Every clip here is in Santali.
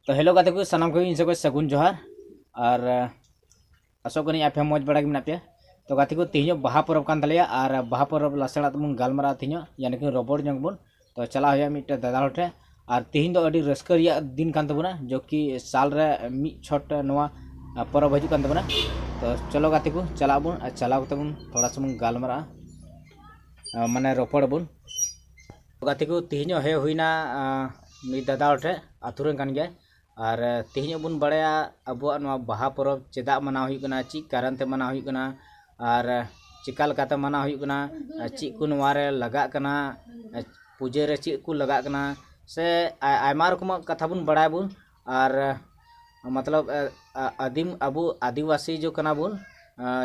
ᱛᱚ ᱦᱮᱞᱳ ᱜᱟᱛᱮ ᱠᱚ ᱥᱟᱱᱟᱢ ᱠᱚᱜᱮ ᱤᱧ ᱥᱮᱫ ᱠᱷᱚᱱ ᱥᱟᱹᱜᱩᱱ ᱡᱚᱦᱟᱨ ᱟᱨ ᱟᱥᱚᱜ ᱠᱟᱹᱱᱟᱹᱧ ᱟᱯᱮ ᱢᱚᱡᱽ ᱵᱟᱲᱟ ᱜᱮ ᱢᱮᱱᱟᱜ ᱯᱮᱭᱟ ᱛᱚ ᱜᱟᱛᱮ ᱠᱚ ᱛᱮᱦᱮᱧᱚᱜ ᱵᱟᱦᱟ ᱯᱚᱨᱚᱵᱽ ᱠᱟᱱ ᱛᱟᱞᱮᱭᱟ ᱟᱨ ᱵᱟᱦᱟ ᱯᱚᱨᱚᱵᱽ ᱞᱟᱥᱟᱲᱟᱜ ᱛᱮᱵᱚᱱ ᱜᱟᱞᱢᱟᱨᱟᱜᱼᱟ ᱛᱮᱦᱮᱧᱚᱜ ᱭᱟᱱᱤ ᱠᱤ ᱨᱚᱯᱚᱲ ᱧᱚᱜ ᱵᱚᱱ ᱛᱚ ᱪᱟᱞᱟᱜ ᱦᱩᱭᱩᱜᱼᱟ ᱢᱤᱫᱴᱮᱱ ᱫᱟᱫᱟ ᱦᱚᱲ ᱴᱷᱮᱱ ᱟᱨ ᱛᱮᱦᱮᱧ ᱫᱚ ᱟᱹᱰᱤ ᱨᱟᱹᱥᱠᱟᱹ ᱨᱮᱭᱟᱜ ᱫᱤᱱ ᱠᱟᱱ ᱛᱟᱵᱚᱱᱟ ᱡᱚ ᱠᱤ ᱥᱟᱞ ᱨᱮ ᱢᱤᱫ ᱪᱷᱚᱴ ᱱᱚᱣᱟ ᱯᱚᱨᱚᱵᱽ ᱦᱤᱡᱩᱜ ᱠᱟᱱ ᱛᱟᱵᱚᱱᱟ ᱛᱚ ᱪᱚᱞᱚ ᱜᱟᱛᱮ ᱠᱚ ᱪᱟᱞᱟᱜ ᱟᱵᱚᱱ ᱟᱨ ᱪᱟᱞᱟᱣ ᱠᱟᱛᱮ ᱵᱚᱱ ᱛᱷᱚᱲᱟ ᱥᱟ ᱵᱚᱱ ᱜᱟᱞᱢᱟᱨᱟᱜᱼᱟ ᱢᱟᱱᱮ ᱨᱚᱯᱚᱲ ᱟᱵᱚᱱ ᱜᱟᱛᱮ ᱠᱚ ᱛᱮᱦᱮᱧᱚᱜ ᱦᱮᱡ ᱦᱩᱭᱮᱱᱟ ᱢᱤᱫ ᱫᱟᱫᱟ ᱦᱚᱲ ᱴᱷᱮᱱ ᱟᱹᱛᱩ ᱨᱮᱱ ᱠᱟᱱ ᱜᱮᱭᱟᱭ ᱟᱨ ᱛᱮᱦᱮᱧᱚᱜ ᱵᱚᱱ ᱵᱟᱲᱟᱭᱟ ᱟᱵᱚᱣᱟᱜ ᱱᱚᱣᱟ ᱵᱟᱦᱟ ᱯᱚᱨᱚᱵᱽ ᱪᱮᱫᱟᱜ ᱢᱟᱱᱟᱣ ᱦᱩᱭᱩᱜ ᱠᱟᱱᱟ ᱪᱮᱫ ᱠᱟᱨᱚᱱ ᱛᱮ ᱢᱟᱱᱟᱣ ᱦᱩᱭᱩᱜ ᱠᱟᱱᱟ ᱟᱨ ᱪᱮᱠᱟ ᱞᱮᱠᱟᱛᱮ ᱢᱟᱱᱟᱣ ᱦᱩᱭᱩᱜ ᱠᱟᱱᱟ ᱟᱨ ᱪᱮᱫ ᱠᱚ ᱱᱚᱣᱟ ᱨᱮ ᱞᱟᱜᱟᱜ ᱠᱟᱱᱟ ᱯᱩᱡᱟᱹ ᱨᱮ ᱪᱮᱫ ᱠᱚ ᱞᱟᱜᱟᱜ ᱠᱟᱱᱟ ᱥᱮ ᱟᱭᱢᱟ ᱨᱚᱠᱚᱢᱟᱜ ᱠᱟᱛᱷᱟ ᱵᱚᱱ ᱵᱟᱲᱟᱭᱟᱵᱚᱱ ᱟᱨ ᱢᱚᱛᱞᱚᱵᱽ ᱟᱹᱫᱤᱢ ᱟᱵᱚ ᱟᱹᱫᱤᱵᱟᱹᱥᱤ ᱡᱚ ᱠᱟᱱᱟ ᱵᱚᱱ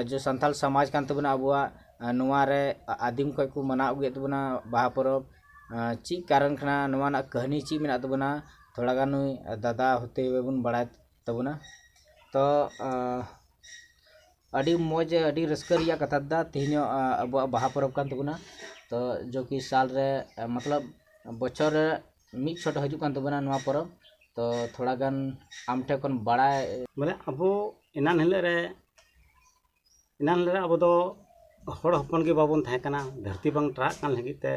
ᱡᱚ ᱥᱟᱱᱛᱟᱲ ᱥᱚᱢᱟᱡᱽ ᱠᱟᱱ ᱛᱟᱵᱚᱱᱟ ᱟᱵᱚᱣᱟᱜ ᱱᱚᱣᱟ ᱨᱮ ᱟᱹᱫᱤᱢ ᱠᱷᱚᱱ ᱠᱚ ᱢᱟᱱᱟᱣ ᱟᱹᱜᱩᱭᱮᱫ ᱛᱟᱵᱚᱱᱟ ᱵᱟᱦᱟ ᱯᱚᱨᱚᱵᱽ ᱪᱮᱫ ᱠᱟᱨᱚᱱ ᱠᱟᱱᱟ ᱱᱚᱣᱟ ᱨᱮᱱᱟᱜ ᱠᱟᱹᱦᱱᱤ ᱪᱮᱫ ᱢᱮᱱᱟᱜ ᱛᱟᱵᱚᱱᱟ ᱛᱷᱚᱲᱟ ᱜᱟᱱ ᱱᱩᱭ ᱫᱟᱫᱟ ᱦᱚᱛᱮ ᱦᱩᱭᱮ ᱵᱚᱱ ᱵᱟᱲᱟᱭ ᱛᱟᱵᱚᱱᱟ ᱛᱚ ᱟᱹᱰᱤ ᱢᱚᱡᱽ ᱟᱹᱰᱤ ᱨᱟᱹᱥᱠᱟᱹ ᱨᱮᱭᱟᱜ ᱠᱟᱛᱷᱟ ᱫᱟᱫᱟ ᱛᱮᱦᱮᱧ ᱦᱚᱸ ᱟᱵᱚᱣᱟᱜ ᱵᱟᱦᱟ ᱯᱚᱨᱚᱵᱽ ᱠᱟᱱ ᱛᱟᱵᱚᱱᱟ ᱛᱚ ᱡᱚ ᱠᱤ ᱥᱟᱞ ᱨᱮ ᱢᱚᱛᱞᱚᱵᱽ ᱵᱚᱪᱷᱚᱨ ᱨᱮ ᱢᱤᱫ ᱥᱚᱴ ᱦᱤᱡᱩᱜ ᱠᱟᱱ ᱛᱟᱵᱚᱱᱟ ᱱᱚᱣᱟ ᱯᱚᱨᱚᱵᱽ ᱛᱚ ᱛᱷᱚᱲᱟ ᱜᱟᱱ ᱟᱢ ᱴᱷᱮᱱ ᱠᱷᱚᱱ ᱵᱟᱲᱟᱭ ᱢᱟᱱᱮ ᱟᱵᱚ ᱮᱱᱟᱱ ᱦᱤᱞᱳᱜ ᱨᱮ ᱮᱱᱟᱱ ᱦᱤᱞᱳᱜ ᱨᱮ ᱟᱵᱚ ᱫᱚ ᱦᱚᱲ ᱦᱚᱯᱚᱱ ᱜᱮ ᱵᱟᱵᱚᱱ ᱛᱟᱦᱮᱸ ᱠᱟᱱᱟ ᱫᱷᱟᱹᱨᱛᱤ ᱵᱟᱝ ᱴᱨᱟᱜ ᱠᱟᱱ ᱞᱟᱹᱜᱤᱫ ᱛᱮ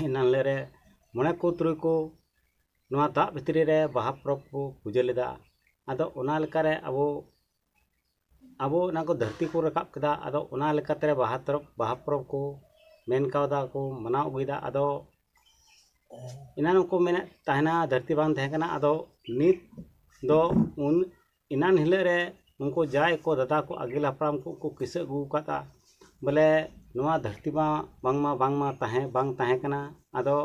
ᱮᱱᱟᱱ ᱦᱤᱞᱳᱜ ᱨᱮ ᱢᱚᱬᱮ ᱠᱚ ᱛᱩᱨᱩᱭ ᱠᱚ ᱱᱚᱣᱟ ᱫᱟᱜ ᱵᱷᱤᱛᱨᱤ ᱨᱮ ᱵᱟᱦᱟ ᱯᱚᱨᱚᱵᱽ ᱠᱚ ᱯᱩᱡᱟᱹ ᱞᱮᱫᱟ ᱟᱫᱚ ᱚᱱᱟ ᱞᱮᱠᱟᱨᱮ ᱟᱵᱚ ᱟᱵᱚ ᱚᱱᱟ ᱠᱚ ᱫᱷᱟᱹᱨᱛᱤ ᱠᱚ ᱨᱟᱠᱟᱵ ᱠᱮᱫᱟ ᱟᱫᱚ ᱚᱱᱟ ᱞᱮᱠᱟᱛᱮ ᱵᱟᱦᱟ ᱛᱚᱨᱚᱵ ᱵᱟᱦᱟ ᱯᱚᱨᱚᱵᱽ ᱠᱚ ᱢᱮᱱ ᱠᱟᱣᱫᱟ ᱠᱚ ᱢᱟᱱᱟᱣ ᱟᱹᱜᱩᱭᱮᱫᱟ ᱟᱫᱚ ᱮᱱᱟᱱ ᱦᱚᱸᱠᱚ ᱢᱮᱱᱮᱫ ᱛᱟᱦᱮᱱᱟ ᱫᱷᱟᱹᱨᱛᱤ ᱵᱟᱝ ᱛᱟᱦᱮᱸ ᱠᱟᱱᱟ ᱟᱫᱚ ᱱᱤᱛ ᱫᱚ ᱩᱱ ᱮᱱᱟᱱ ᱦᱤᱞᱳᱜ ᱨᱮ ᱩᱱᱠᱩ ᱡᱟᱦᱟᱸᱭ ᱠᱚ ᱫᱟᱫᱟ ᱠᱚ ᱟᱹᱜᱤᱞ ᱦᱟᱯᱲᱟᱢ ᱠᱚ ᱠᱚ ᱠᱤᱥᱟᱹ ᱟᱹᱜᱩ ᱟᱠᱟᱫᱟ ᱵᱚᱞᱮ ᱱᱚᱣᱟ ᱫᱷᱟᱹᱨᱛᱤ ᱢᱟ ᱵᱟᱝᱢᱟ ᱵᱟᱝᱢᱟ ᱛᱟᱦᱮᱸ ᱵᱟᱝ ᱛᱟᱦᱮᱸ ᱠᱟᱱᱟ ᱟᱫᱚ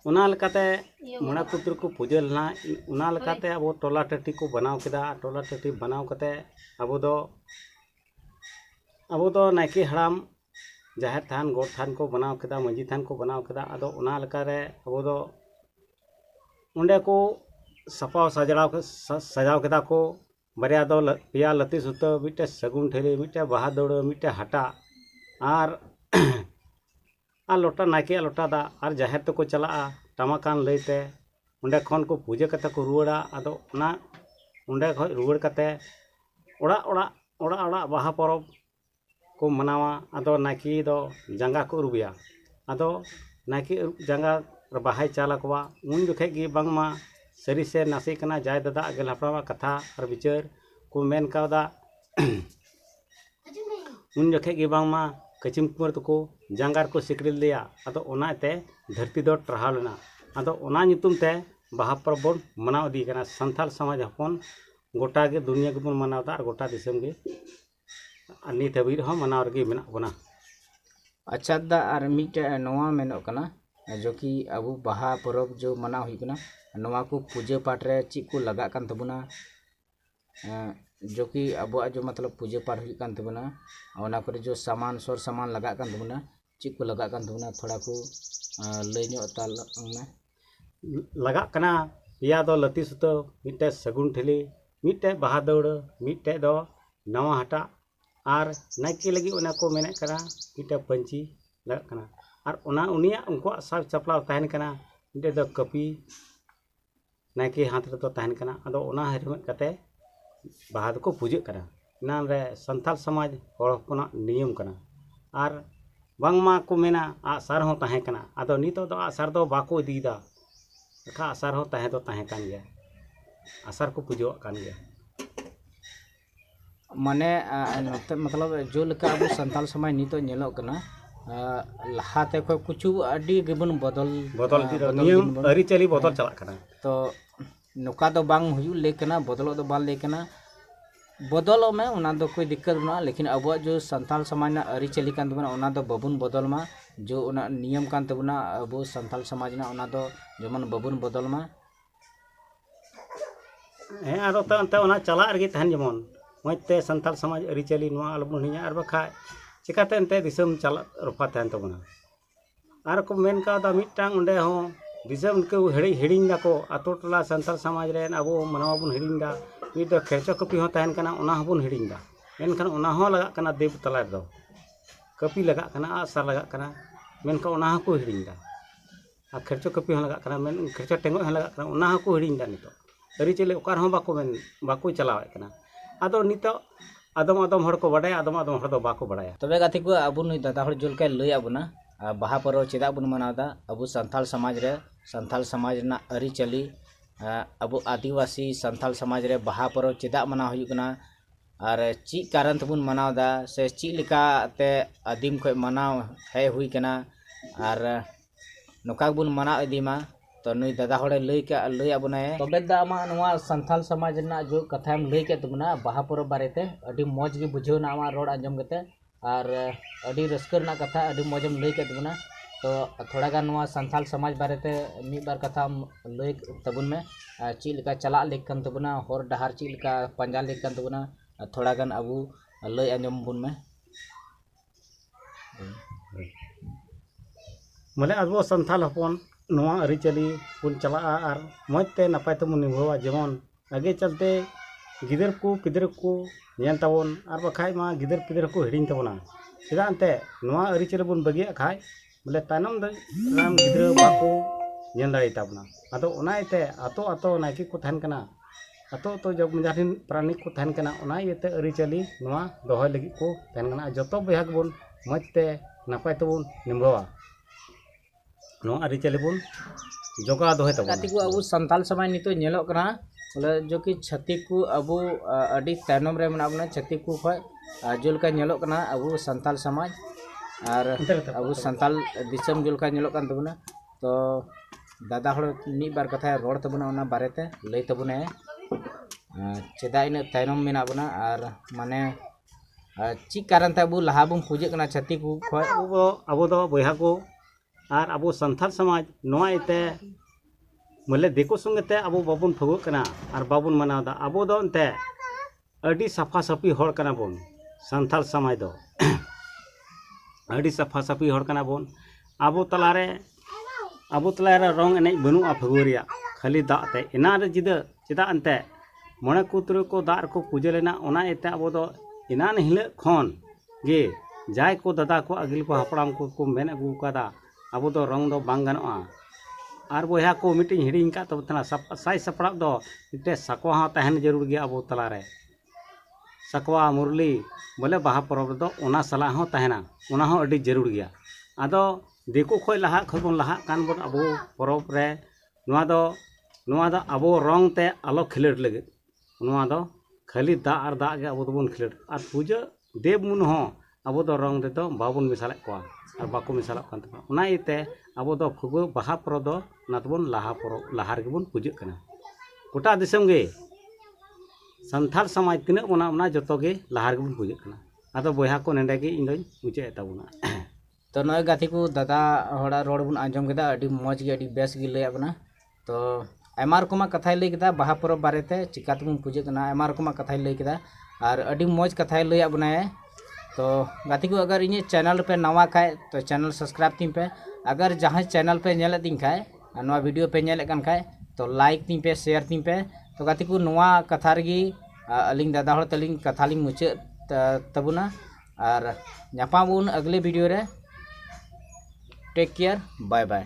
ᱚᱱᱟ ᱞᱮᱠᱟᱛᱮ ᱢᱚᱬᱮ ᱠᱚ ᱛᱩᱨᱩᱭ ᱠᱚ ᱯᱩᱡᱟᱹ ᱞᱮᱱᱟ ᱚᱱᱟ ᱞᱮᱠᱟᱛᱮ ᱟᱵᱚ ᱴᱚᱞᱟ ᱴᱟᱺᱰᱤ ᱠᱚ ᱵᱮᱱᱟᱣ ᱠᱮᱫᱟ ᱴᱚᱞᱟ ᱴᱟᱺᱰᱤ ᱵᱮᱱᱟᱣ ᱠᱟᱛᱮ ᱟᱵᱚ ᱫᱚ ᱟᱵᱚ ᱫᱚ ᱱᱟᱭᱠᱮ ᱦᱟᱲᱟᱢ ᱡᱟᱦᱮᱨ ᱛᱷᱟᱱ ᱜᱚᱴ ᱛᱷᱟᱱ ᱠᱚ ᱵᱮᱱᱟᱣ ᱠᱮᱫᱟ ᱢᱟᱺᱡᱷᱤ ᱛᱷᱟᱱ ᱠᱚ ᱵᱮᱱᱟᱣ ᱠᱮᱫᱟ ᱟᱫᱚ ᱚᱱᱟ ᱞᱮᱠᱟᱨᱮ ᱟᱵᱚ ᱫᱚ ᱚᱸᱰᱮ ᱠᱚ ᱥᱟᱯᱷᱟ ᱥᱟᱡᱽᱲᱟᱣ ᱥᱟᱡᱟᱣ ᱠᱮᱫᱟ ᱠᱚ ᱵᱟᱨᱭᱟ ᱫᱚ ᱯᱮᱭᱟ ᱞᱟᱹᱛᱤ ᱥᱩᱛᱟᱹ ᱢᱤᱫᱴᱮᱱ ᱥᱟᱹᱜᱩᱱ ᱴᱷᱤᱞᱤ ᱢᱤᱫᱴᱮᱱ ᱵᱟᱦᱟ ᱫᱟᱹᱣᱲᱟᱹ ᱢᱤᱫᱴᱮᱱ ᱦᱟᱴᱟᱜ ᱟᱨ ᱟᱨ ᱞᱚᱴᱟ ᱱᱟᱭᱠᱮᱭᱟᱜ ᱞᱚᱴᱟ ᱫᱟᱜ ᱟᱨ ᱡᱟᱦᱮᱨ ᱛᱮᱠᱚ ᱪᱟᱞᱟᱜᱼᱟ ᱴᱟᱢᱟᱠᱟᱱ ᱞᱟᱹᱭ ᱛᱮ ᱚᱸᱰᱮ ᱠᱷᱚᱱ ᱠᱚ ᱯᱩᱡᱟᱹ ᱠᱟᱛᱮ ᱠᱚ ᱨᱩᱣᱟᱹᱲᱟ ᱟᱫᱚ ᱚᱱᱟ ᱚᱸᱰᱮ ᱠᱷᱚᱱ ᱨᱩᱣᱟᱹᱲ ᱠᱟᱛᱮ ᱚᱲᱟᱜ ᱚᱲᱟᱜ ᱚᱲᱟᱜ ᱚᱲᱟᱜ ᱵᱟᱦᱟ ᱯᱚᱨᱚᱵᱽ ᱠᱚ ᱢᱟᱱᱟᱣᱟ ᱟᱫᱚ ᱱᱟᱭᱠᱮ ᱫᱚ ᱡᱟᱸᱜᱟ ᱠᱚ ᱟᱹᱨᱩᱵᱮᱭᱟ ᱟᱫᱚ ᱱᱟᱭᱠᱮ ᱟᱹᱨᱩᱵ ᱡᱟᱸᱜᱟ ᱵᱟᱦᱟᱭ ᱪᱟᱞ ᱟᱠᱚᱣᱟ ᱩᱱ ᱡᱚᱠᱷᱮᱡ ᱜᱮ ᱵᱟᱝᱢᱟ ᱥᱟᱹᱨᱤ ᱥᱮ ᱱᱟᱥᱮ ᱠᱟᱱᱟ ᱡᱟᱭ ᱫᱟᱫᱟ ᱟᱹᱜᱤᱞ ᱦᱟᱯᱲᱟᱢᱟᱜ ᱠᱟᱛᱷᱟ ᱟᱨ ᱵᱤᱪᱟᱹᱨ ᱠᱚ ᱢᱮᱱ ᱠᱟᱣᱫᱟ ᱩᱱ ᱡᱚᱠᱷᱮᱡ ᱜᱮ ᱵᱟᱝᱢᱟ ᱠᱟᱹᱪᱤᱢ ᱠᱩᱢᱟᱹᱨ ᱛᱟᱠᱚ ᱡᱟᱸᱜᱟ ᱨᱮᱠᱚ ᱥᱤᱠᱲᱤ ᱞᱮᱫᱮᱭᱟ ᱟᱫᱚ ᱚᱱᱟ ᱛᱮ ᱫᱷᱟᱹᱨᱛᱤ ᱫᱚ ᱴᱟᱨᱦᱟᱣ ᱞᱮᱱᱟ ᱟᱫᱚ ᱚᱱᱟ ᱧᱩᱛᱩᱢ ᱛᱮ ᱵᱟᱦᱟ ᱯᱚᱨᱚᱵᱽ ᱵᱚᱱ ᱢᱟᱱᱟᱣ ᱤᱫᱤᱭᱮ ᱠᱟᱱᱟ ᱥᱟᱱᱛᱟᱲ ᱥᱚᱢᱟᱡᱽ ᱦᱚᱯᱚᱱ ᱜᱚᱴᱟ ᱜᱮ ᱫᱩᱱᱤᱭᱟᱹ ᱜᱮᱵᱚᱱ ᱢᱟᱱᱟᱣᱫᱟ ᱟᱨ ᱜᱚᱴᱟ ᱫᱤᱥᱚᱢ ᱜᱮ ᱟᱨ ᱱᱤᱛ ᱦᱟᱹᱵᱤᱡ ᱨᱮᱦᱚᱸ ᱢᱟᱱᱟᱣ ᱨᱮᱜᱮ ᱢᱮᱱᱟᱜ ᱵᱚᱱᱟ ᱟᱪᱪᱷᱟ ᱫᱟ ᱟᱨ ᱢᱤᱫᱴᱮᱡ ᱱᱚᱣᱟ ᱢᱮᱱᱚᱜ ᱠᱟᱱᱟ ᱡᱚ ᱠᱤ ᱟᱵᱚ ᱵᱟᱦᱟ ᱯᱚᱨᱚᱵᱽ ᱡᱚ ᱢᱟᱱᱟᱣ ᱦᱩᱭᱩᱜ ᱠᱟᱱᱟ ᱱᱚᱣᱟ ᱠᱚ ᱯᱩᱡᱟᱹ ᱯᱟᱴ ᱨᱮ ᱪᱮᱫ ᱠᱚ ᱞᱟᱜᱟᱜ ᱠᱟᱱ ᱛᱟᱵᱚᱱᱟ ᱡᱚ ᱠᱤ ᱟᱵᱚᱣᱟᱜ ᱡᱚ ᱢᱚᱛᱞᱚᱵ ᱯᱩᱡᱟᱹ ᱯᱟᱴ ᱦᱩᱭᱩᱜ ᱠᱟᱱ ᱛᱟᱵᱚᱱᱟ ᱚᱱᱟ ᱠᱚᱨᱮ ᱡᱚ ᱥᱟᱢᱟᱱ ᱥᱚᱨ ᱥᱟᱢᱟᱱ ᱞᱟᱜᱟᱜ ᱠᱟᱱ ᱛᱟᱵᱚᱱᱟ ᱪᱮᱫ ᱠᱚ ᱞᱟᱜᱟᱜ ᱠᱟᱱ ᱛᱟᱵᱚᱱᱟ ᱛᱷᱚᱲᱟ ᱠᱚ ᱞᱟᱹᱭ ᱧᱚᱜ ᱛᱟᱞᱟᱝ ᱢᱮ ᱞᱟᱜᱟᱜ ᱠᱟᱱᱟ ᱯᱮᱭᱟ ᱫᱚ ᱞᱟᱹᱛᱤ ᱥᱩᱛᱟᱹᱢ ᱢᱤᱫᱴᱮᱱ ᱥᱟᱹᱜᱩᱱ ᱴᱷᱤᱞᱤ ᱢᱤᱫᱴᱮᱱ ᱵᱟᱦᱟ ᱫᱟᱹᱣᱲᱟᱹ ᱢᱤᱫᱴᱮᱱ ᱫᱚ ᱱᱟᱣᱟ ᱦᱟᱴᱟᱜ ᱟᱨ ᱱᱟᱭᱠᱮ ᱞᱟᱹᱜᱤᱫ ᱚᱱᱟ ᱠᱚ ᱢᱮᱱᱮᱫ ᱠᱟᱱᱟ ᱢᱤᱫᱴᱮᱱ ᱯᱟᱹᱧᱪᱤ ᱞᱟᱜᱟᱜ ᱠᱟᱱᱟ ᱟᱨ ᱚᱱᱟ ᱩᱱᱤᱭᱟᱜ ᱩᱱᱠᱩᱣᱟᱜ ᱥᱟᱡᱽ ᱥᱟᱯᱲᱟᱣ ᱛᱟᱦᱮᱱ ᱠᱟᱱᱟ ᱢᱤᱫᱴᱮᱱ ᱫᱚ ᱠᱟᱹᱯᱤ ᱱᱟᱭᱠᱮ ᱦᱟᱛ ᱨᱮᱫᱚ ᱛᱟᱦᱮᱱ ᱠᱟᱱᱟ ᱟᱫᱚ ᱚᱱᱟ ᱦᱮᱞᱢᱮᱴ ᱠᱟᱛᱮ ᱵᱟᱦᱟ ᱫᱚᱠᱚ ᱯᱩᱡᱟᱹᱜ ᱠᱟᱱᱟ ᱮᱱᱟᱱ ᱨᱮ ᱥᱟᱱᱛᱟᱲ ᱥᱚᱢᱟᱡᱽ ᱦᱚᱲ ᱦᱚᱯᱚᱱᱟᱜ ᱱᱤᱭᱚᱢ ᱠᱟᱱᱟ ᱟᱨ ᱵᱟᱝᱢᱟ ᱠᱚ ᱢᱮᱱᱟ ᱟᱜ ᱥᱟᱨ ᱦᱚᱸ ᱛᱟᱦᱮᱸ ᱠᱟᱱᱟ ᱟᱫᱚ ᱱᱤᱛᱚᱜ ᱫᱚ ᱟᱜ ᱥᱟᱨ ᱫᱚ ᱵᱟᱠᱚ ᱤᱫᱤᱭᱮᱫᱟ ᱮᱱᱠᱷᱟᱱ ᱟᱜ ᱥᱟᱨ ᱦᱚᱸ ᱛᱟᱦᱮᱸ ᱫᱚ ᱛᱟᱦᱮᱸ ᱠᱟᱱ ᱜᱮᱭᱟ ᱟᱜ ᱥᱟᱨ ᱠᱚ ᱯᱩᱡᱟᱹᱣᱟᱜ ᱠᱟᱱ ᱜᱮᱭᱟ ᱢᱟᱱᱮ ᱱᱚᱛᱮ ᱢᱚᱛᱞᱚᱵ ᱡᱮᱞᱮᱠᱟ ᱟᱵᱚ ᱥᱟᱱᱛᱟᱲ ᱥᱚᱢᱟᱡᱽ ᱱᱤᱛᱚᱜ ᱧᱮᱞᱚᱜ ᱠᱟᱱᱟ ᱞᱟᱦᱟᱛᱮ ᱠᱷᱚᱱ ᱠᱤᱪᱷᱩ ᱟᱹᱰᱤ ᱜᱮᱵᱚᱱ ᱵᱚᱫᱚᱞ ᱵᱚᱫᱚᱞ ᱱᱤᱭᱚᱢ ᱟᱹᱨᱤᱪᱟᱹᱞᱤ ᱵᱚᱫᱚᱞ ᱪᱟᱞᱟᱜ ᱠᱟᱱᱟ ᱛᱚ ᱱᱚᱝᱠᱟ ᱫᱚ ᱵᱟᱝ ᱦᱩᱭᱩᱜ ᱞᱟᱹᱭ ᱠᱟᱱᱟ ᱵᱚᱫᱚᱞᱚᱜ ᱫᱚ ᱵᱟᱝ ᱞᱟᱹᱭ ᱠᱟᱱᱟ ᱵᱚᱫᱚᱞᱚᱜ ᱢᱮ ᱚᱱᱟ ᱫᱚ ᱠᱳᱭ ᱫᱤᱠᱠᱟᱹᱛ ᱵᱟᱹᱱᱩᱜᱼᱟ ᱞᱮᱠᱤᱱ ᱟᱵᱚᱣᱟᱜ ᱡᱮ ᱥᱟᱱᱛᱟᱲ ᱥᱚᱢᱟᱡᱽ ᱨᱮᱱᱟᱜ ᱟᱹᱨᱤᱪᱟᱹᱞᱤ ᱠᱟᱱ ᱛᱟᱵᱚᱱᱟ ᱚᱱᱟ ᱫᱚ ᱵᱟᱵᱚᱱ ᱵᱚᱫᱚᱞ ᱢᱟ ᱡᱮ ᱚᱱᱟ ᱱᱤᱭᱚᱢ ᱠᱟᱱ ᱛᱟᱵᱚᱱᱟ ᱟᱵᱚ ᱥᱟᱱᱛᱟᱲ ᱥᱚᱢᱟᱡᱽ ᱨᱮᱱᱟᱜ ᱚᱱᱟ ᱫᱚ ᱡᱮᱢᱚᱱ ᱵᱟᱵᱚᱱ ᱵᱚᱫᱚᱞ ᱢᱟ ᱦᱮᱸ ᱟᱫᱚ ᱮᱱᱛᱮᱫ ᱚᱱᱟ ᱪᱟᱞᱟᱜ ᱨᱮᱜᱮ ᱛᱟᱦᱮᱱ ᱡᱮᱢᱚᱱ ᱢᱚᱡᱽ ᱛᱮ ᱥᱟᱱᱛᱟᱲ ᱥᱚᱢᱟᱡᱽ ᱟᱹᱨᱤᱪᱟᱹᱞᱤ ᱱᱚᱣᱟ ᱟᱞᱚ ᱵᱚᱱ ᱦᱤᱲᱤᱧᱟ ᱟᱨ ᱵᱟᱠᱷᱟᱱ ᱪᱤᱠᱟᱹᱛᱮ ᱮᱱᱛᱮᱫ ᱫᱤᱥᱚᱢ ᱪᱟᱞᱟᱜ ᱨᱚᱯᱷᱟ ᱛᱟᱦᱮᱱ ᱛᱟᱵᱚᱱᱟ ᱟᱨ ᱠᱚ ᱢᱮᱱ ᱠᱟᱣᱫᱟ ᱢᱤᱫᱴᱟᱝ ᱚᱸᱰᱮ ᱦᱚᱸ ᱫᱤᱥᱚᱢ ᱩᱱᱠᱩ ᱦᱤᱲᱤᱧ ᱦᱤᱲᱤᱧ ᱮᱫᱟᱠᱚ ᱟᱛᱳ ᱴᱚᱞᱟ ᱥᱟᱱᱛᱟᱲ ᱥᱚᱢᱟᱡᱽ ᱨᱮᱱ ᱟᱵᱚ ᱢᱟᱱᱣᱟ ᱵᱚᱱ ᱦᱤᱲᱤᱧ ᱮᱫᱟ ᱢᱤᱫ ᱫᱚ ᱠᱷᱮᱨᱪᱚ ᱠᱟᱹᱯᱤ ᱦᱚᱸ ᱛᱟᱦᱮᱱ ᱠᱟᱱᱟ ᱚᱱᱟ ᱦᱚᱸ ᱵᱚᱱ ᱦᱤᱲᱤᱧ ᱮᱫᱟ ᱢᱮᱱᱠᱷᱟᱱ ᱚᱱᱟ ᱦᱚᱸ ᱞᱟᱜᱟᱜ ᱠᱟᱱᱟ ᱫᱮᱵᱽ ᱛᱟᱞᱟ ᱨᱮᱫᱚ ᱠᱟᱹᱯᱤ ᱞᱟᱜᱟᱜ ᱠᱟᱱᱟ ᱟᱜᱼᱥᱟᱨ ᱞᱟᱜᱟᱜ ᱠᱟᱱᱟ ᱢᱮᱱᱠᱷᱟᱱ ᱚᱱᱟ ᱦᱚᱸᱠᱚ ᱦᱤᱲᱤᱧ ᱮᱫᱟ ᱟᱨ ᱠᱷᱮᱨᱪᱚ ᱠᱟᱹᱯᱤ ᱦᱚᱸ ᱞᱟᱜᱟᱜ ᱠᱟᱱᱟ ᱢᱮᱱ ᱠᱷᱮᱨᱪᱚ ᱴᱮᱸᱜᱚᱡ ᱦᱚᱸ ᱞᱟᱜᱟᱜ ᱠᱟᱱᱟ ᱚᱱᱟ ᱦᱚᱸᱠᱚ ᱦᱤᱲᱤᱧ ᱮᱫᱟ ᱱᱤᱛᱚᱜ ᱟᱹᱨᱤᱪᱟᱹᱞᱤ ᱚᱠᱟ ᱨᱮᱦᱚᱸ ᱵᱟᱠᱚ ᱢᱮᱱ ᱵᱟᱠᱚ ᱪᱟᱞᱟᱣᱮᱫ ᱠᱟᱱᱟ ᱟᱫᱚ ᱱᱤᱛᱚᱜ ᱟᱫᱚᱢ ᱟᱫᱚᱢ ᱦᱚᱲ ᱠᱚ ᱵᱟᱰᱟᱭᱟ ᱟᱫᱚᱢ ᱟᱫᱚᱢ ᱦᱚᱲ ᱫᱚ ᱵᱟᱠᱚ ᱵᱟᱲᱟᱭᱟ ᱛᱚᱵᱮ ᱜᱟᱛᱮ ᱠᱚ ᱟᱵᱚ ᱱᱩᱭ ᱫᱟᱫᱟ ᱦᱚᱲ ᱡᱩᱞᱠᱟᱭ ᱞᱟᱹᱭᱟᱫ ᱵᱚᱱᱟ ᱵᱟᱦᱟ ᱯᱚᱨᱚᱵᱽ ᱪᱮᱫᱟᱜ ᱵᱚᱱ ᱢᱟᱱᱟᱣ ᱮᱫᱟ ᱟᱵᱚ ᱥᱟᱱᱛᱟᱲ ᱥᱚᱢᱟᱡᱽ ᱨᱮ ᱥᱟᱱᱛᱟᱲ ᱥᱚᱢᱟᱡᱽ ᱨᱮᱱᱟᱜ ᱟᱹᱨᱤᱪᱟᱹᱞᱤ ᱟᱵᱚ ᱟᱹᱫᱤᱵᱟᱹᱥᱤ ᱥᱟᱱᱛᱟᱲ ᱥᱚᱢᱟᱡᱽ ᱨᱮ ᱵᱟᱦᱟ ᱯᱚᱨᱚᱵᱽ ᱪᱮᱫᱟᱜ ᱢᱟᱱᱟᱣ ᱦᱩᱭᱩᱜ ᱠᱟᱱᱟ ᱟᱨ ᱪᱮᱫ ᱠᱟᱨᱚᱱ ᱛᱮᱵᱚᱱ ᱢᱟᱱᱟᱣ ᱮᱫᱟ ᱥᱮ ᱪᱮᱫ ᱞᱮᱠᱟᱛᱮ ᱟᱹᱫᱤᱢ ᱠᱷᱚᱱ ᱢᱟᱱᱟᱣ ᱦᱮᱡ ᱦᱩᱭ ᱟᱠᱟᱱᱟ ᱟᱨ ᱱᱚᱝᱠᱟ ᱜᱮᱵᱚᱱ ᱢᱟᱱᱟᱣ ᱤᱫᱤ ᱢᱟ ᱛᱚ ᱱᱩᱭ ᱫᱟᱫᱟ ᱦᱚᱲᱮ ᱞᱟᱹᱭ ᱠᱟᱜ ᱞᱟᱹᱭ ᱟᱫ ᱵᱚᱱᱟᱭ ᱛᱚᱵᱮ ᱫᱟ ᱟᱢᱟᱜ ᱱᱚᱣᱟ ᱥᱟᱱᱛᱟᱞ ᱥᱚᱢᱟᱡᱽ ᱨᱮᱱᱟᱜ ᱡᱚ ᱠᱟᱛᱷᱟᱢ ᱞᱟᱹᱭ ᱠᱮᱫ ᱛᱟᱵᱚᱱᱟ ᱵᱟᱦᱟ ᱯᱚᱨᱚᱵᱽ ᱵᱟᱨᱮᱛᱮ ᱟᱹᱰᱤ ᱢᱚᱡᱽ ᱜᱮ ᱵᱩᱡᱷᱟᱹᱣᱱᱟ ᱟᱢᱟᱜ ᱨᱚᱲ ᱟᱸᱡᱚᱢ ᱠᱟᱛᱮ ᱟᱨ ᱟᱹᱰᱤ ᱨᱟᱹᱥᱠᱟᱹ ᱨᱮᱱᱟᱜ ᱠᱟᱛᱷᱟ ᱟᱹᱰᱤ ᱢᱚᱡᱽ ᱮᱢ ᱞᱟᱹᱭ ᱠᱮᱫ ᱛᱟᱵᱚᱱᱟ ᱛᱚ ᱛᱷᱚᱲᱟ ᱜᱟᱱ ᱱᱚᱣᱟ ᱥᱟᱱᱛᱟᱞ ᱥᱚᱢᱟᱡᱽ ᱵᱟᱨᱮᱛᱮ ᱢᱤᱫ ᱵᱟᱨ ᱠᱟᱛᱷᱟᱢ ᱞᱟᱹᱭ ᱛᱟᱵᱚᱱ ᱢᱮ ᱟᱨ ᱪᱮᱫ ᱞᱮᱠᱟ ᱪᱟᱞᱟᱜ ᱞᱮᱠ ᱠᱟᱱ ᱛᱟᱵᱚᱱᱟ ᱦᱚᱨ ᱰᱟᱦᱟᱨ ᱪᱮᱫ ᱞᱮᱠᱟ ᱯᱟᱸᱡᱟ ᱞᱮᱠ ᱠᱟᱱ ᱛᱟᱵᱚᱱᱟ ᱛᱷᱚᱲᱟ ᱜᱟᱱ ᱟᱵᱚ ᱞᱟᱹᱭ ᱟᱸᱡᱚᱢ ᱟᱵᱚᱱ ᱢᱮ ᱢᱟᱱᱮ ᱟᱵᱚ ᱥᱟᱱᱛᱟᱲ ᱦᱚᱯᱚᱱ ᱱᱚᱣᱟ ᱟᱹᱨᱤᱪᱟᱹᱞᱤ ᱵᱚᱱ ᱪᱟᱞᱟᱜᱼᱟ ᱟᱨ ᱢᱚᱡᱽ ᱛᱮ ᱱᱟᱯᱟᱭ ᱛᱮᱵᱚᱱ ᱱᱤᱵᱷᱟᱹᱣᱟ ᱡᱮᱢᱚᱱ ᱟᱜᱮ ᱪᱟᱞᱛᱮ ᱜᱤᱫᱟᱹᱨ ᱠᱚ ᱯᱤᱫᱟᱹᱨ ᱠᱚ ᱧᱮᱞ ᱛᱟᱵᱚᱱ ᱟᱨ ᱵᱟᱠᱷᱟᱱ ᱢᱟ ᱜᱤᱫᱟᱹᱨ ᱯᱤᱫᱟᱹᱨ ᱦᱚᱸᱠᱚ ᱦᱤᱲᱤᱧ ᱛᱟᱵᱚᱱᱟ ᱪᱮᱫᱟᱜ ᱮᱱᱛᱮᱫ ᱱᱚᱣᱟ ᱟᱹᱨᱤᱪᱟᱹᱞᱤ ᱵᱚᱱ ᱵᱟᱹᱜᱤᱭᱟᱜ ᱠᱷᱟᱱ ᱵᱚᱞᱮ ᱛᱟᱭᱱᱚᱢ ᱫᱟᱨᱟᱢ ᱜᱤᱫᱽᱨᱟᱹ ᱵᱟᱠᱚ ᱧᱮᱞ ᱫᱟᱲᱮ ᱛᱟᱵᱚᱱᱟ ᱟᱫᱚ ᱚᱱᱟ ᱤᱭᱟᱹᱛᱮ ᱟᱹᱛᱩ ᱟᱹᱛᱩ ᱱᱟᱭᱠᱮ ᱠᱚ ᱛᱟᱦᱮᱱ ᱠᱟᱱᱟ ᱟᱹᱛᱩ ᱟᱹᱛᱩ ᱡᱚᱜᱽ ᱢᱟᱺᱡᱷᱤ ᱴᱷᱮᱱ ᱯᱟᱨᱟᱱᱤᱠ ᱠᱚ ᱛᱟᱦᱮᱱ ᱠᱟᱱᱟ ᱚᱱᱟ ᱤᱭᱟᱹᱛᱮ ᱟᱹᱨᱤᱪᱟᱹᱞᱤ ᱱᱚᱣᱟ ᱫᱚᱦᱚᱭ ᱞᱟᱹᱜᱤᱫ ᱠᱚ ᱛᱟᱦᱮᱱ ᱠᱟᱱᱟ ᱟᱨ ᱡᱚᱛᱚ ᱵᱚᱭᱦᱟ ᱜᱮᱵᱚᱱ ᱢᱚᱡᱽ ᱛᱮ ᱱᱟᱯᱟᱭ ᱛᱮᱵᱚᱱ ᱱᱤᱵᱷᱟᱹᱣᱟ ᱱᱚᱣᱟ ᱟᱹᱨᱤᱪᱟᱹᱞᱤ ᱵᱚᱱ ᱡᱚᱜᱟᱣ ᱫᱚᱦᱚᱭ ᱛᱟᱵᱚᱱᱟ ᱜᱟᱛᱮ ᱠᱚ ᱟᱵᱚ ᱥᱟᱱᱛᱟᱲ ᱥᱚᱢᱟᱡᱽ ᱱᱤᱛᱚᱜ ᱧᱮᱞᱚᱜ ᱠᱟᱱᱟ ᱵᱚᱞᱮ ᱡᱚᱠᱤ ᱪᱷᱟᱹᱛᱤᱠ ᱠᱚ ᱟᱵᱚ ᱟᱹᱰᱤ ᱛᱟᱭᱱᱚᱢ ᱨᱮ ᱢᱮᱱᱟᱜ ᱵᱚᱱᱟ ᱪᱷᱟᱹᱛᱤᱠ ᱠᱚ ᱠᱷᱚᱱ ᱟᱨ ᱡᱮᱞᱮᱠᱟ ᱧᱮᱞᱚᱜ ᱠᱟᱱᱟ ᱟᱵᱚ ᱥᱟᱱᱛᱟᱲ ᱥᱚᱢᱟᱡᱽ ᱟᱨ ᱟᱵᱚ ᱥᱟᱱᱛᱟᱲ ᱫᱤᱥᱚᱢ ᱡᱮᱞᱮᱠᱟ ᱧᱮᱞᱚᱜ ᱠᱟᱱ ᱛᱟᱵᱚᱱᱟ ᱛᱚ ᱫᱟᱫᱟ ᱦᱚᱲ ᱢᱤᱫ ᱵᱟᱨ ᱠᱟᱛᱷᱟᱭ ᱨᱚᱲ ᱛᱟᱵᱚᱱᱟ ᱚᱱᱟ ᱵᱟᱨᱮᱛᱮ ᱞᱟᱹᱭ ᱛᱟᱵᱚᱱᱟᱭ ᱪᱮᱫᱟᱜ ᱤᱱᱟᱹᱜ ᱛᱟᱭᱱᱚᱢ ᱢᱮᱱᱟᱜ ᱵᱚᱱᱟ ᱟᱨ ᱢᱟᱱᱮ ᱪᱮᱫ ᱠᱟᱨᱚᱱ ᱛᱮ ᱟᱵᱚ ᱞᱟᱦᱟ ᱵᱚᱱ ᱠᱷᱚᱡᱚᱜ ᱠᱟᱱᱟ ᱪᱷᱟᱹᱛᱤᱠ ᱠᱚ ᱠᱷᱚᱡ ᱟᱵᱚ ᱫᱚ ᱵᱚᱭᱦᱟ ᱠᱚ ᱟᱨ ᱟᱵᱚ ᱥᱟᱱᱛᱟᱲ ᱥᱚᱢᱟᱡᱽ ᱱᱚᱣᱟ ᱤᱭᱟᱹᱛᱮ ᱵᱚᱞᱮ ᱫᱤᱠᱩ ᱥᱚᱸᱜᱮ ᱛᱮ ᱟᱵᱚ ᱵᱟᱵᱚᱱ ᱯᱷᱟᱹᱜᱩᱜ ᱠᱟᱱᱟ ᱟᱨ ᱵᱟᱵᱚᱱ ᱢᱟᱱᱟᱣᱫᱟ ᱟᱵᱚ ᱫᱚ ᱮᱱᱛᱮᱫ ᱟᱹᱰᱤ ᱥᱟᱯᱷᱟ ᱥᱟᱹᱯᱷᱤ ᱦᱚᱲ ᱠᱟᱱᱟ ᱵᱚᱱ ᱥᱟᱱᱛᱟᱲ ᱥᱚᱢᱟᱡᱽ ᱫᱚ ᱟᱹᱰᱤ ᱥᱟᱯᱷᱟ ᱥᱟᱹᱯᱷᱤ ᱦᱚᱲ ᱠᱟᱱᱟ ᱵᱚᱱ ᱟᱵᱚ ᱛᱟᱞᱟ ᱨᱮ ᱟᱵᱚ ᱛᱟᱞᱟ ᱨᱮ ᱨᱚᱝ ᱮᱱᱮᱡ ᱵᱟᱹᱱᱩᱜᱼᱟ ᱯᱷᱟᱹᱜᱩᱣᱟᱹ ᱨᱮᱭᱟᱜ ᱠᱷᱟᱹᱞᱤ ᱫᱟᱜ ᱛᱮ ᱮᱱᱟᱱ ᱨᱮ ᱡᱩᱫᱟᱹ ᱪᱮᱫᱟᱜ ᱮᱱᱛᱮᱫ ᱢᱚᱬᱮ ᱠᱚ ᱛᱩᱨᱩᱭ ᱠᱚ ᱫᱟᱜ ᱨᱮᱠᱚ ᱯᱩᱡᱟᱹ ᱞᱮᱱᱟ ᱚᱱᱟ ᱤᱭᱟᱹᱛᱮ ᱟᱵᱚ ᱫᱚ ᱮᱱᱟᱱ ᱦᱤᱞᱟᱹᱜ ᱠᱷᱚᱱ ᱜᱮ ᱡᱟᱦᱟᱸᱭ ᱠᱚ ᱫᱟᱫᱟ ᱠᱚ ᱟᱹᱜᱤᱞ ᱠᱚ ᱦᱟᱯᱲᱟᱢ ᱠᱚᱠᱚ ᱢᱮᱱ ᱟᱹᱜᱩ ᱟᱠᱟᱫᱟ ᱟᱵᱚ ᱫᱚ ᱨᱚᱝ ᱫᱚ ᱵᱟᱝ ᱜᱟᱱᱚᱜᱼᱟ ᱟᱨ ᱵᱚᱭᱦᱟ ᱠᱚ ᱢᱤᱫᱴᱮᱱ ᱤᱧ ᱦᱤᱲᱤᱧ ᱟᱠᱟᱫ ᱛᱟᱵᱚᱱ ᱛᱟᱦᱮᱱᱟ ᱥᱟᱡᱽ ᱥᱟᱯᱲᱟᱣ ᱫᱚ ᱢᱤᱫᱴᱮᱱ ᱥᱟᱠᱣᱟ ᱦᱚᱸ ᱛᱟᱦᱮᱱ ᱡᱟᱹᱨᱩᱲ ᱜᱮᱭᱟ ᱟᱵᱚ ᱛᱟᱞᱟ ᱨᱮ ᱥᱟᱠᱣᱟ ᱢᱩᱨᱞᱤ ᱵᱚᱞᱮ ᱵᱟᱦᱟ ᱯᱚᱨᱚᱵᱽ ᱨᱮᱫᱚ ᱚᱱᱟ ᱥᱟᱞᱟᱜ ᱦᱚᱸ ᱛᱟᱦᱮᱱᱟ ᱚᱱᱟ ᱦᱚᱸ ᱟᱹᱰᱤ ᱡᱟᱹᱨᱩᱲ ᱜᱮᱭᱟ ᱟᱫᱚ ᱫᱤᱠᱩ ᱠᱷᱚᱱ ᱞᱟᱦᱟᱜ ᱠᱷᱚᱱ ᱵᱚᱱ ᱞᱟᱦᱟᱜ ᱠᱟᱱ ᱵᱚᱱ ᱟᱵᱚ ᱯᱚᱨᱚᱵᱽ ᱨᱮ ᱱᱚᱣᱟ ᱫᱚ ᱱᱚᱣᱟ ᱫᱚ ᱟᱵᱚ ᱨᱚᱝ ᱛᱮ ᱟᱞᱚ ᱠᱷᱮᱞᱳᱰ ᱞᱟᱹᱜᱤᱫ ᱱᱚᱣᱟ ᱫᱚ ᱠᱷᱟᱹᱞᱤ ᱫᱟᱜ ᱟᱨ ᱫᱟᱜ ᱜᱮ ᱟᱵᱚ ᱫᱚᱵᱚᱱ ᱠᱷᱮᱞᱳᱰ ᱟᱨ ᱯᱩᱡᱟᱹ ᱫᱮᱵᱽ ᱢᱩᱱ ᱦᱚᱸ ᱟᱵᱚ ᱫᱚ ᱨᱚᱝ ᱨᱮᱫᱚ ᱵᱟᱵᱚᱱ ᱢᱮᱥᱟᱞᱮᱫ ᱠᱚᱣᱟ ᱟᱨ ᱵᱟᱠᱚ ᱢᱮᱥᱟᱞᱚᱜ ᱠᱟᱱ ᱛᱟᱵᱚᱱᱟ ᱚᱱᱟ ᱤᱭᱟᱹᱛᱮ ᱟᱵᱚ ᱫᱚ ᱯᱷᱟᱹᱜᱩᱣᱟᱹ ᱵᱟᱦᱟ ᱯᱚᱨᱚᱵᱽ ᱫᱚ ᱚᱱᱟ ᱛᱮᱵᱚᱱ ᱞᱟᱦᱟ ᱯᱚᱨᱚᱵᱽ ᱞᱟᱦᱟ ᱨᱮᱜᱮ ᱵᱚᱱ ᱯᱩᱡᱟᱹᱜ ᱠᱟᱱᱟ ᱜᱚᱴᱟ ᱫᱤᱥᱚᱢ ᱜᱮ ᱥᱟᱱᱛᱟᱲ ᱥᱚᱢᱟᱡᱽ ᱛᱤᱱᱟᱹᱜ ᱢᱮᱱᱟᱜᱼᱟ ᱚᱱᱟ ᱡᱚᱛᱚ ᱜᱮ ᱞᱟᱦᱟ ᱨᱮᱜᱮ ᱵᱚᱱ ᱯᱩᱡᱟᱹᱜ ᱠᱟᱱᱟ ᱟᱫᱚ ᱵᱚᱭᱦᱟ ᱠᱚ ᱱᱚᱰᱮ ᱜᱮ ᱤᱧ ᱫᱚᱧ ᱢᱩᱪᱟᱹᱫ ᱮᱫ ᱛᱟᱵᱚᱱᱟ ᱛᱚ ᱱᱚᱜᱼᱚᱭ ᱜᱟᱛᱮ ᱠᱚ ᱫᱟᱫᱟ ᱦᱚᱲᱟᱜ ᱨᱚᱲ ᱵᱚᱱ ᱟᱸᱡᱚᱢ ᱠᱮᱫᱟ ᱟᱹᱰᱤ ᱢᱚᱡᱽ ᱜᱮ ᱟᱹᱰᱤ ᱵᱮᱥ ᱜᱮ ᱞᱟᱹᱭᱟᱫ ᱵᱚᱱᱟ ᱛᱚ ᱟᱭᱢᱟ ᱨᱚᱠᱚᱢᱟᱜ ᱠᱟᱛᱷᱟᱭ ᱞᱟᱹᱭ ᱠᱮᱫᱟ ᱵᱟᱦᱟ ᱯᱚᱨᱚᱵᱽ ᱵᱟᱨᱮᱛᱮ ᱪᱤᱠᱟᱹ ᱛᱮᱵᱚᱱ ᱯᱩᱡᱟᱹᱜ ᱠᱟᱱᱟ ᱟᱭᱢᱟ ᱨᱚᱠᱚᱢᱟᱜ ᱠᱟᱛᱷᱟᱭ ᱞᱟᱹᱭ ᱠᱮᱫᱟ ᱟᱨ ᱟᱹᱰᱤ ᱢᱚᱡᱽ ᱠᱟᱛᱷᱟᱭ ᱞᱟᱹᱭᱟᱫ ᱵᱚᱱᱟᱭ ᱛᱚ ᱜᱟᱛᱮ ᱠᱚ ᱟᱜᱟᱨ ᱤᱧᱟᱹᱜ ᱪᱮᱱᱮᱞ ᱨᱮᱯᱮ ᱱᱟᱣᱟ ᱠᱷᱟᱡ ᱛᱚ ᱪᱮᱱᱮᱞ ᱥᱟᱵᱥᱠᱨᱟᱭᱤᱵᱽ ᱛᱤᱧ ᱯᱮ ᱟᱜᱟᱨ ᱡᱟᱦᱟᱸᱭ ᱪᱮᱱᱮᱞ ᱯᱮ ᱧᱮᱞᱮᱫ ᱛᱤᱧ ᱠᱷᱟᱡ ᱟᱨ ᱱᱚᱣᱟ ᱵᱷᱤᱰᱤᱭᱳ ᱯᱮ ᱧᱮᱞᱮᱫ ᱠᱟᱱ ᱠᱷᱟᱡ ᱛᱚ ᱞᱟᱭᱤᱠ ᱛᱤᱧ ᱯᱮ ᱥᱮᱭᱟᱨ ᱛᱤᱧ ᱯᱮ ᱛᱚ ᱜᱟᱛᱮ ᱠᱚ ᱱᱚᱣᱟ ᱠᱟᱛᱷᱟ ᱨᱮᱜᱮ ᱟᱹᱞᱤᱧ ᱫᱟᱫᱟ ᱦᱚᱲ ᱛᱟᱹᱞᱤᱧ ᱠᱟᱛᱷᱟ ᱞᱤᱧ ᱢᱩᱪᱟᱹᱫ ᱛᱟᱵᱚᱱᱟ ᱟᱨ ᱧᱟᱯᱟᱢ ᱵᱚᱱ ᱟᱜᱽᱞᱮ ᱵᱷᱤᱰᱤᱭᱳ ᱨᱮ ᱴᱮᱠ ᱠᱮᱭᱟᱨ ᱵᱟᱭ ᱵᱟᱭ